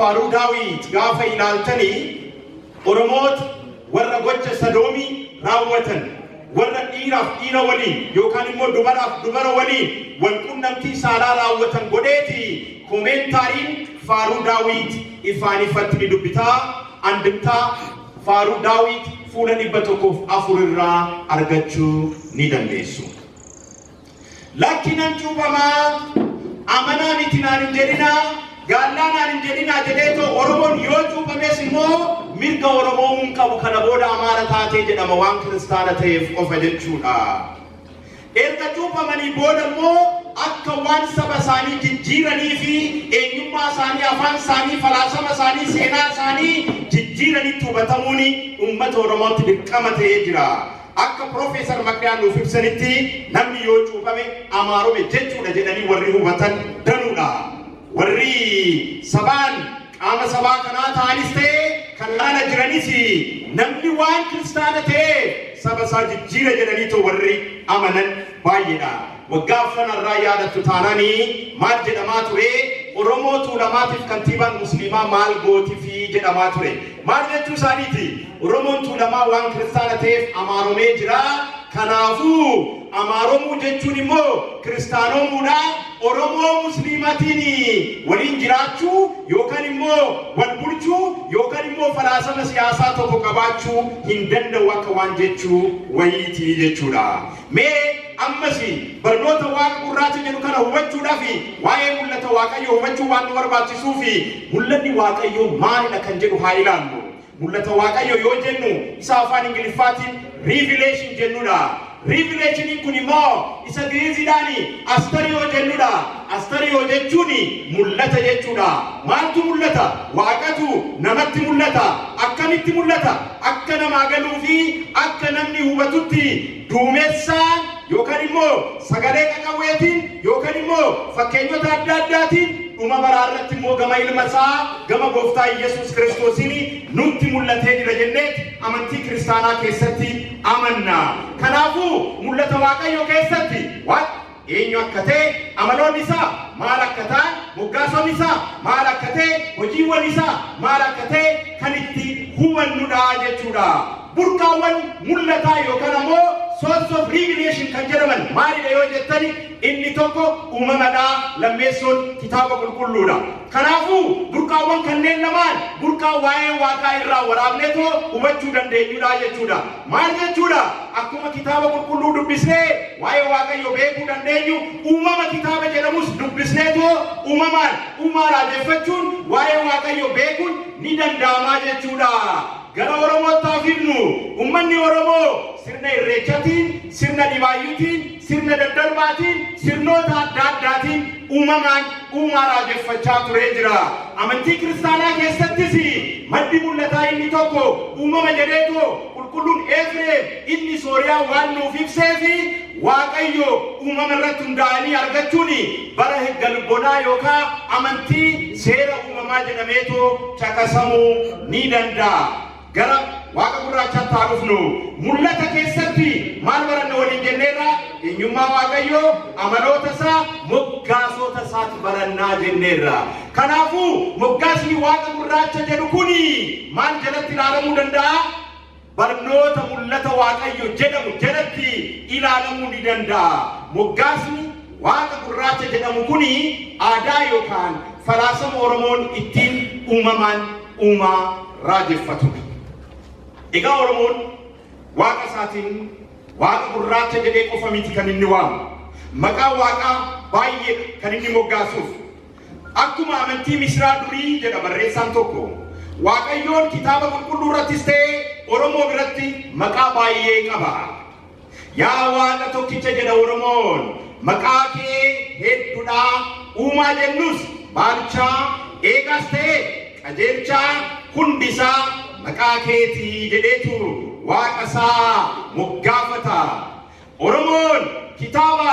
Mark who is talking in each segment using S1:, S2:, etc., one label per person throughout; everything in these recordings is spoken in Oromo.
S1: Faaruu Daawit gaafa ilaaltanii Oromoota warra gocha sadoomii raawwatan warra dhiiraaf dhiira waliin yookaan immoo dubaraaf dubara waliin wal qunnamtii saalaa raawwatan godheeti komeentaariin faaruu Daawit ifaan ifatti ni dubbitaa andimtaa faaruu Daawit fuula dhibba tokkoof afur irraa argachuu ni dandeessu. Lakki nan cuuphamaa, amanaa miti naan hin jedhinaa, gaallaa naan hin jedhinaa jedhee too Oromoon yoo cuuphames immoo mirga Oromoomuu hin qabu kana booda Amaara taatee jedhama waan kiristaana ta'eef qofa jechuudha. Erga cuuphamanii booda immoo akka waan saba isaanii jijjiiranii fi eenyummaa isaanii, afaan isaanii, falaasama isaanii, seenaa isaanii jijjiiranitti hubatamuun uummata Oromootti dirqama ta'ee jira. Akka Pirofeesar Magdaan nuuf ibsanitti namni yoo cuuphame amaarome jechuudha jedhanii warri hubatan danuudha. Warri sabaan qaama sabaa kanaa ta'anis ta'e kan ala jiranis namni waan kiristaana ta'e saba isaa jijjiira jedhanii too warri amanan baay'eedha. Waggaa afran irraa yaadattu taanani maal jedhamaa ture? Oromoo Tuulamaatiif kantiibaan Musliimaa maal gootifi? jedhamaa ture. Maal jechuu isaaniiti? Oromoon Tuulamaa waan kiristaana ta'eef amaaromee jira. Kanaafuu amaaromuu jechuun immoo kiristaanoomuudha. Oromoo Musliimatiin waliin jiraachuu yookaan immoo wal bulchuu yookaan immoo falaasama siyaasaa tokko qabaachuu hin danda'u akka waan jechuu wayiiti jechuudha. Mee ammas barnoota Waaqa gurraacha jedhu kana hubachuudhaaf waa'ee mul'ata Waaqayyoo hubachuu waan nu barbaachisuuf mul'anni Waaqayyoo maalidha kan jedhu haa ilaallu. Mul'ata Waaqayyoo yoo jennu isa afaan Ingiliffaatiin revelation jennudha. Revelationiin kun immoo isa Giriiziidhaan astariyoo jennudha. Astariyoo jechuun mul'ata jechuudha. Maaltu mul'ata? Waaqatu namatti mul'ata. Akkamitti mul'ata? Akka namaa galuu fi akka namni hubatutti duumessaan yookaan immoo sagalee qaqawweetiin yookaan immoo fakkeenyota adda addaatiin dhuma baraa irratti immoo gama ilma isaa gama gooftaa Iyyasuus Kiristoosiin nutti mul'atee jira jenneeti amantii kiristaanaa keessatti amanna. Kanaafuu mul'ata Waaqayyoo keessatti eenyu akka ta'e, amaloonni isaa maal akka ta'an, moggaasonni isaa maal akka ta'e, hojiiwwan isaa maal akka ta'e kan itti hubannudha jechuudha. Burqaawwan mul'ataa yookaan ammoo source of revelation kan jedhaman maalidha yoo jettani inni tokko uumamadha lammeessoon kitaaba qulqulluudha. Kanaafuu burqaawwan kanneen lamaan burqaa waa'ee waaqaa irraa waraabneetoo hubachuu dandeenyudha jechuudha. Maal jechuudha? Akkuma Kitaaba Qulqulluu dubbisnee waa'ee Waaqayyoo beekuu dandeenyu, uumama kitaaba jedhamus dubbisneetoo uumamaan uumaa raajeffachuun waa'ee Waaqayyoo beekuun ni danda'amaa jechuudha. Gara Oromootti haa fidnu. Uummanni Oromoo sirna Irreechatiin, sirna Dhibaayyuutiin, Sirna daddarbaatiin, sirnoota adda addaatiin uumamaan uumaa raajeffachaa turee jira. Amantii kiristaanaa keessattis maddi mul'ataa inni tokko uumama jedheetoo qulqulluun Eefreem inni Sooriyaa waan nuuf ibseef Waaqayyo uumama irratti hundaa'anii argachuun bara galbonaa yookaa amantii seera uumamaa jedhameetoo caqasamuu ni danda'a. Gara waaqa gurraachaatti haa dhufnu. Mul'ata keessatti maal baranna waliin jenneerra? Eenyummaa Waaqayyoo, amaloota isaa, moggaasoota isaati barannaa jenneerra. Kanaafuu moggaasni waaqa gurraacha jedhu kuni maal jalatti ilaalamuu danda'a? Barnoota mul'ata Waaqayyo jedhamu jalatti ilaalamuu ni danda'a. Moggaasni waaqa gurraacha jedhamu kuni aadaa yookaan falaasama Oromoon ittiin uumamaan uumaa raajeffatudha. Egaa Oromoon waaqa isaatiin waaqa gurraacha jedhee qofa miti kan inni waamu. Maqaa waaqaa baay'ee kan inni moggaasuuf. Akkuma amantii misraa durii jedha barreessaan tokko. Waaqayyoon kitaaba qulqulluu irrattis ta'ee Oromoo biratti maqaa baay'ee qaba. Yaa Waaqa tokkicha jedha Oromoon maqaa kee heddudhaa uumaa jennus baalchaa eegaas ta'e qajeelchaa hundisaa maqaa keetii jedheetu waaqa isaa moggaafata. Oromoon kitaaba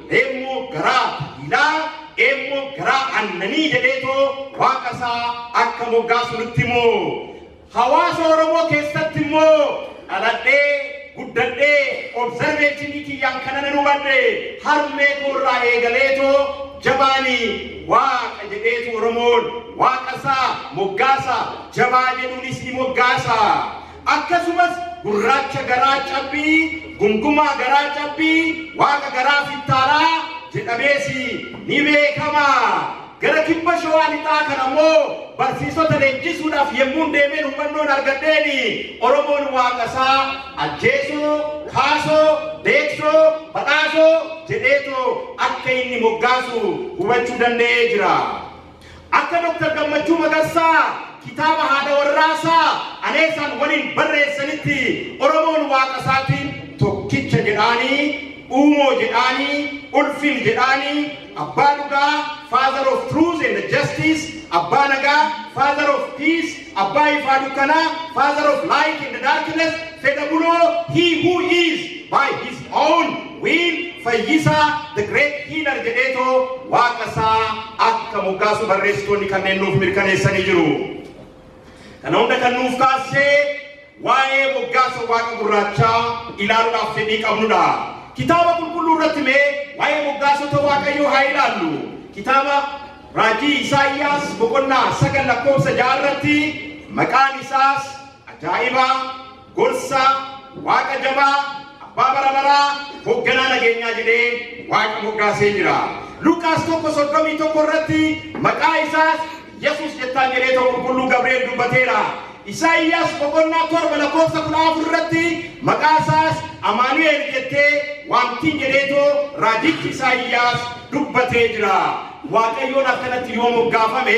S1: reemmoo garaa taliilaa, eemmoo garaa aannanii jedheetoo waaqa isaa akka moggaasu nutti himu. Hawaasa Oromoo keessatti immoo dhaladhee guddadhee observeeshinii kiyyaan kana nan hubadhe harmee koo irraa eegaleetoo jabaani waaqa jedheetu Oromoon waaqa isaa moggaasa jabaa jedhuunis ni moggaasa. Akkasumas gurraacha garaa cabbii, gumgumaa garaa cabbii, waaqa garaa fittaalaa jedhamees ni beekama. Gara kibba shawaa lixaa kan ammoo barsiisota leenjisuudhaaf yemmuun deemeen hubannoon argadheen Oromoon waaqasaa ajjeesoo, kaasoo, deeksoo, badhaasoo jedheetoo akka inni moggaasu hubachuu danda'ee jira. Akka Dr. Gammachuu Magarsaa kitaaba haadha warraasaa Aneesaan waliin barreessanitti Oromoon waaqa isaatiin tokkicha jedhaanii, uumoo jedhaanii, ulfin jedhaanii, abbaa dhugaa, father of truth and justice, abbaa nagaa, father of peace, Abbaa ifaa dukkanaa, Father of light and darkness, fedha buloo, He who is, by his own will, fayyisaa, the great healer jedheetoo waaqa isaa akka moggaasu barreessitoonni kanneen nuuf mirkaneessanii jiru. Kana hunda kan nuuf kaassee Waa'ee moggaasa Waaqa gurraachaa ilaaluudhaaf fedhii qabnu dha. Kitaaba Qulqulluu irratti mee waa'ee moggaasota Waaqayyoo haa ilaallu. Kitaaba Raajii Isaayyaas boqonnaa 9 lakkoofsa 6 irratti maqaan isaas ajaa'iba, gorsa, waaqa jabaa, abbaa bara baraa, hoogganaa nageenyaa jedhee waaqa moggaasee jira. Luqaas 1:31 irratti maqaa isaas Yesuus jettaan jedhee to Qulqulluu Gabri'eel dubbateera. Isaayyaas boqonnaa 7 lakkoofsa 14 irratti maqaa isaas Amaanu'eel jettee waamtiin jedhee to raajichi Isaayyaas dubbatee jira. Waaqayyoon akkanatti yoo moggaafame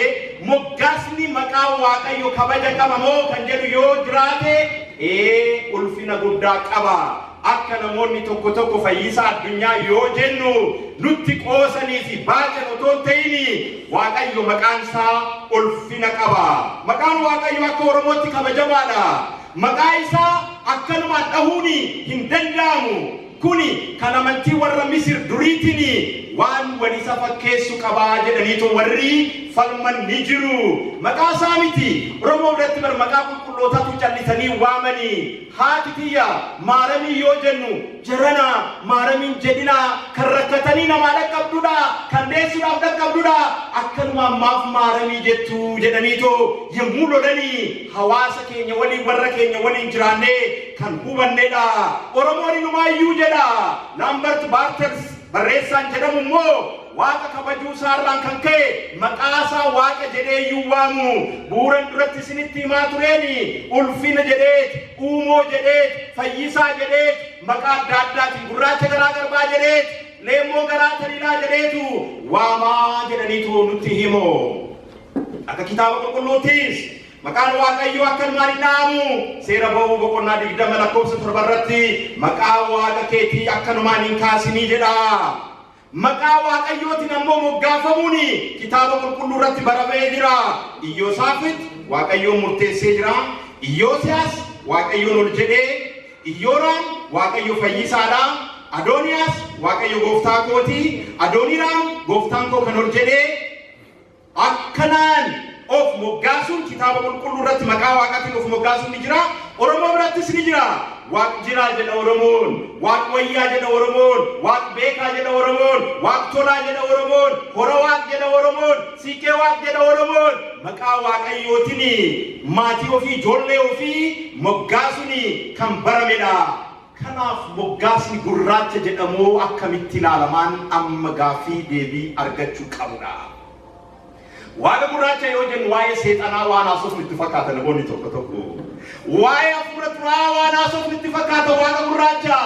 S1: moggaasni maqaa Waaqayyo kabaja qaba moo kan jedhu yoo jiraate ee ulfina guddaa qaba. Akka namoonni tokko tokko fayyisaa addunyaa yoo jennu nutti qoosanii fi baacan otoo hin ta'ini Waaqayyo maqaan isaa ulfina qaba. Maqaan Waaqayyo akka Oromootti kabajamaadha. Maqaa isaa akkanumaan dhahuun hin danda'amu. Kuni kan amantii warra Misir duriitiin waan wal isa fakkeessu qabaa jedhaniitu warri falman ni jiru. Maqaa isaa miti. Oromoo biratti bar maqaa qulqullootaatu callisanii waamanii. Haati tiyya Maaramii yoo jennu jarana Maaramiin jedhina kan rakkatanii namaa dhaqqabdudha, kan deessuudhaaf dhaqqabdudha, akkanumaan maaf Maaramii jettu jedhaniitoo yommuu lolani hawaasa keenya waliin warra keenya waliin jiraannee kan hubannedha. Oromoon inumaayyuu jedha Laambart Baartels barreessaan jedhamu immoo, Waaqa kabajuu isaa irraan kan ka'e maqaa isaa Waaqa jedhee iyyuu waamu. Bu'uuran duratti isinitti himaa tureeni ulfina jedheet, uumoo jedheet, fayyisaa jedheet, maqaa adda addaatiin gurraacha garaa garbaa jedheet, leemmoo garaa taliilaa jedheetu waamaa jedhaniitu nutti himu. Akka kitaaba qulqulluuttis maqaan Waaqayyoo akka ilmaan hin dha'amu seera ba'uu boqonnaa digdama lakkoofsa torba irratti maqaa Waaqa keetii akkanumaan hin kaasinii jedha. Maqaa Waaqayyootiin ammoo moggaafamuun Kitaaba Qulqulluu irratti baraba'ee jira. Iyyoosaafit Waaqayyoon murteessee jira. Iyyoosiyaas Waaqayyoon ol jedhee, Iyyooraam Waaqayyo fayyisaadha. Adooniyaas Waaqayyo gooftaa kooti. Adooniraam gooftaan koo kan ol jedhee Akkanaan of moggaasuun Kitaaba Qulqulluu irratti maqaa Waaqaatiin of moggaasuun ni jira. Oromoo birattis ni jira. Waaq jiraa jedha Oromoon, Waaq wayyaa jedha Oromoon, Waaq beekaa jedha Oromoon, Waaq tolaa jedha Oromoon, Hora Waaq jedha Oromoon, Siiqqee Waaq jedha Oromoon. Maqaa Waaqayyootiin maatii ofii, ijoollee ofii moggaasuun kan baramedha. Kanaaf moggaasni gurraacha jedhamuu akkamitti ilaalamaan amma gaaffii deebii argachuu qabudha. Waada gurraacha yoo jennu waa'ee seexanaa waan haasofnu itti fakkaata namoonni tokko tokko. Waa'ee hafuura xuraa'aa waan haasofnu itti fakkaata waada gurraacha.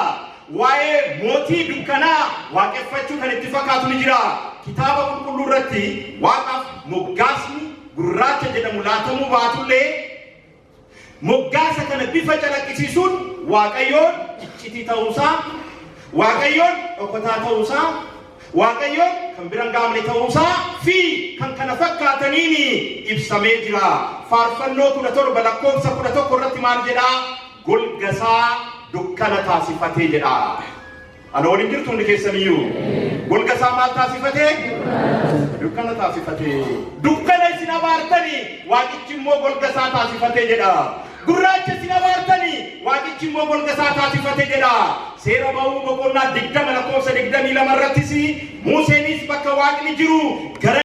S1: Waa'ee mootii dukkanaa waaqeffachuu kan itti fakkaatu ni jira. Kitaaba qulqulluu irratti waaqaaf moggaasni gurraacha jedhamu laatamuu baatullee Moggaasa kana bifa calaqqisiisuun Waaqayyoon iccitii ta'uu isaa, Waaqayyoon dhokotaa ta'uu isaa, Waaqayyoon kan bira hin gaamne ta'uu isaa fi kan kana fakkaataniin ibsamee jira. Faarfannoo 17 lakkoofsa 11 irratti maal jedhaa? Golga isaa dukkana taasifatee jedhaa. Ana waliin jirtu hundi keessaniyyuu. Golga isaa maal taasifate? Dukkana taasifate. Dukkana isin abaartanii waaqichi immoo golga isaa taasifate jedha. Gurraacha isin abaartanii waaqichi immoo golga isaa taasifate jedha. Seera ba'uu boqonnaa digdama lakkoofsa digdamii lama irrattis Museenis bakka waaqni jiru gara